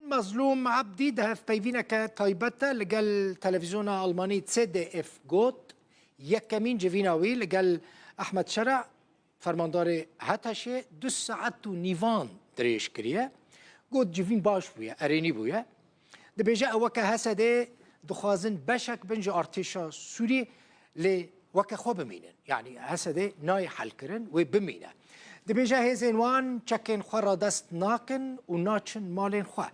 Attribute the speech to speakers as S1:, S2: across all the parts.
S1: Mazlûm Ebdî di hevpeyvîneke taybet de li gel televîzyona Almanî ZDF got, Yekemîn civîna wî li gel Ehmed Şera, fermandarê HTŞ'ê du saet û nîvan dirêj kiriye. Got civîn baş bûye, erênî bûye. Dibêje ew weke HSD'ê dixwazin beşek bin ji artêşa Sûrî. lê weke xwe bimînin. Yanî Esedê nayê helkirin wê bimîne. Dibêje hêzên wan çekên xwe radest nakin û naçin malên xwe.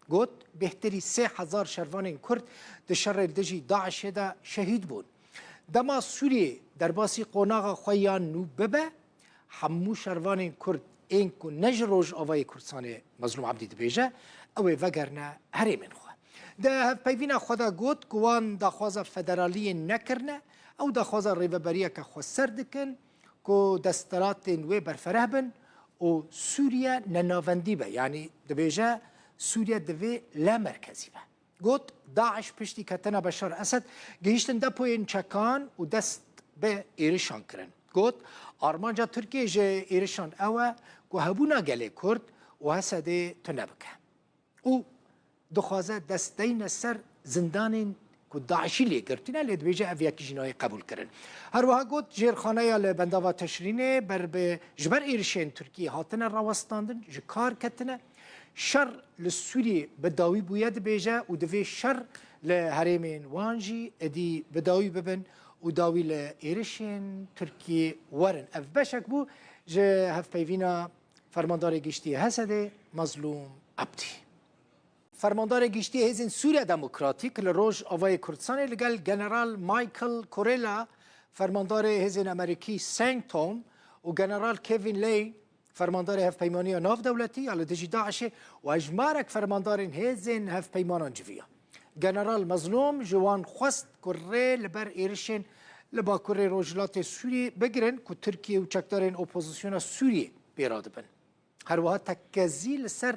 S1: Got, bêhtirî sê hezar şervanên Kurd di şerê dijî DAIŞ'ê de şehîd bûn. Dema Sûriyê derbasî qonaxa xwe yan nû bibe, Hemû şervanên Kurd ên ku ne ji Rojavayê Kurdistanê Mezlûm Ebdî dibêje, ew ê vegerine herêmên xwe. Di hevpeyvîna xwe de got ku wan daxwaza federaliyê nekirine, ew daxwaza rêveberiyeke xweser dikin ku desthilatên wê berfereh bin û Sûriye nenavendî be, yanî dibêje Sûriye divê lamerkezî be. Got, DAIŞ piştî ketina Beşar Esed gihîştin depoyên çekan û dest bi êrişan kirin. Got, armanca Tirkiyê ji êrişan ew e ku hebûna gelê Kurd û Hesedê tune bike û dixwaze dest deyne ser zindanên ku DAIŞ'î lê girtine lê dibêje ev yekî jî nayê qebûlkirin. Her wiha got, jêrxaneya li bendava Teşrînê ber bi ji ber êrişên Tirkiyê hatine rawestandin ji kar ketine. Şer li Sûriyê bi dawî bûye dibêje û divê şer li herêmên wan jî êdî bi dawî bibin û dawî li êrişên Tirkiyê werin. Ev beşek bû ji hevpeyvîna Fermandarê Giştî yê Hesedê Mezlûm Ebdî. Fermandarê Giştî yê Hêzên Sûriya Demokratîk li Rojavayê Kurdistanê li gel General Michael Kurilla, Fermandarê Hêzên Amerîkî Seng Tom û General Kevin Lane Fermandarê Hevpeymaniya Navdewletî ya li dijî DAIŞê û hejmarek fermandarên hêzên hevpeymanan civiya. General Mezlûm ji wan xwest ku rê li ber êrişên li bakurê rojhilatê Sûriyê bigirin ku Tirkiye û çekdarên opozisyona Sûriyê pê re dibin. Her wiha tekezî li ser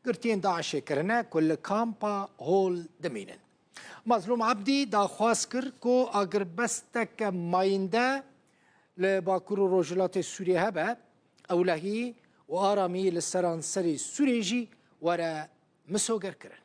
S1: girtiyên DAIŞê kirine ku li kampa Hol dimînin. Mezlûm Ebdî daxwaz kir ku agirbesteke mayînde Li Bakur û Rojhilatê Sûriyê hebe ewlehî û aramî li seranserî Sûriyê jî were misogerkirin.